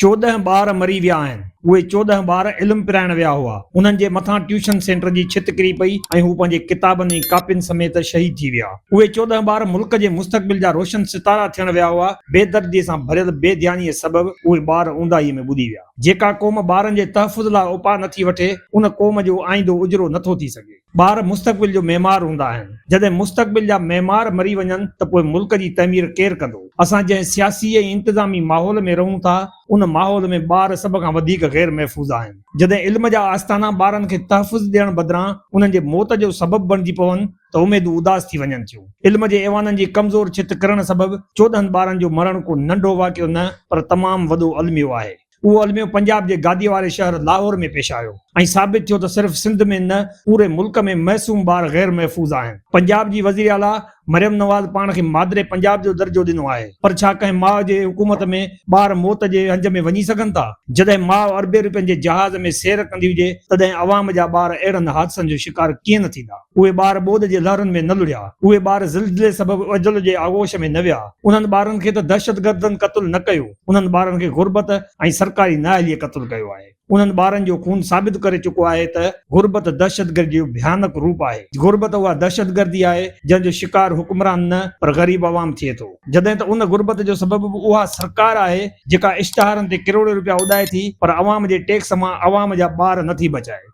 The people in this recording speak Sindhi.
چوڏهن ٻار مري ويا آهن. اهي چوڏهن ٻار علم پرائڻ ويا هئا. انهن جي مٿان ٽيوشن سينٽر جي ڇت ڪري پئي ۽ هو پنهنجي ڪتابن ۽ ڪاپين سميت شهيد ٿي ويا. اهي چوڏهن ٻار ملڪ جي مستقبل جا روشن ستارا ٿيڻ ويا هئا. بي دردي سان ڀريل بي ڌيانيء سبب اهي ٻار اونداهيء ۾ ٻڏي ويا. جيڪا قوم ٻارن جي تحفظ لاء اپاء نٿي وٺي، ان قوم جو آئيندو اجرو نٿو ٿي سگهي. ٻار مستقبل جو معمار هوندا آهن، جڏهن مستقبل جا معمار مري وڃن ته پوء ملڪ جي تعمير ڪير ڪندو؟ اسان جنهن سياسي ۽ انتظامي ماحول ۾ رهون ٿا، ان ماحول ۾ ٻار سڀ کان وڌيڪ غير محفوظ آهن. جڏهن علم جا آستانا ٻارن کي تحفظ ڏيڻ بدران انهن جي موت جو سبب بڻجي پون ته اميدون اداس ٿي وڃن ٿيون. علم جي ايوانن جي ڪمزور ڇت ڪرڻ سبب چوڏهن ٻارن جو مرڻ ڪو ننڍو واقعو نه پر تمام وڏو الميو آهي. اهو الميو پنجاب جي گاديء واري شهر لاهور ۾ پيش آيو ۽ ثابت ٿيو ته صرف سنڌ ۾ نه پوري ملڪ ۾ معصوم ٻار غير محفوظ آهن. پنجاب جي وزير اعليٰ مريم نواز پاڻ کي مادري پنجاب جو درجو ڏنو آهي پر ڇا ڪنهن ماء جي حڪومت ۾ ٻار موت جي هنج ۾ وڃي سگهن ٿا؟ جڏهن ماء اربين رپين جي جهاز ۾ سير ڪندي هجي تڏهن عوام جا ٻار اهڙن حادثن جو شڪار ڪيئن نه ٿيندا؟ اهي ٻار ٻوڏ جي لهرن ۾ نه لڙهيا، اهي ٻار زلزلي سبب اجل جي آغوش ۾ نه ويا، انهن ٻارن کي ته دهشتگردن قتل نه ڪيو، انهن ٻارن کي غربت ۽ سرڪاري نااهليء قتل ڪيو آهي. انهن ٻارن جو خون ثابت ڪري چڪو آهي ته غربت دهشتگردي جو ڀيانڪ روپ آهي. غربت اها دهشتگردي آهي، جنهن جو شڪار حڪمران نه پر غريب عوام ٿئي ٿو. جڏهن ته ان غربت جو سبب به اها سرڪار آهي، جيڪا اشتهارن تي ڪروڙين روپيا اڏائي ٿي پر عوام جي ٽيڪس مان عوام جا ٻار نٿي بچائي.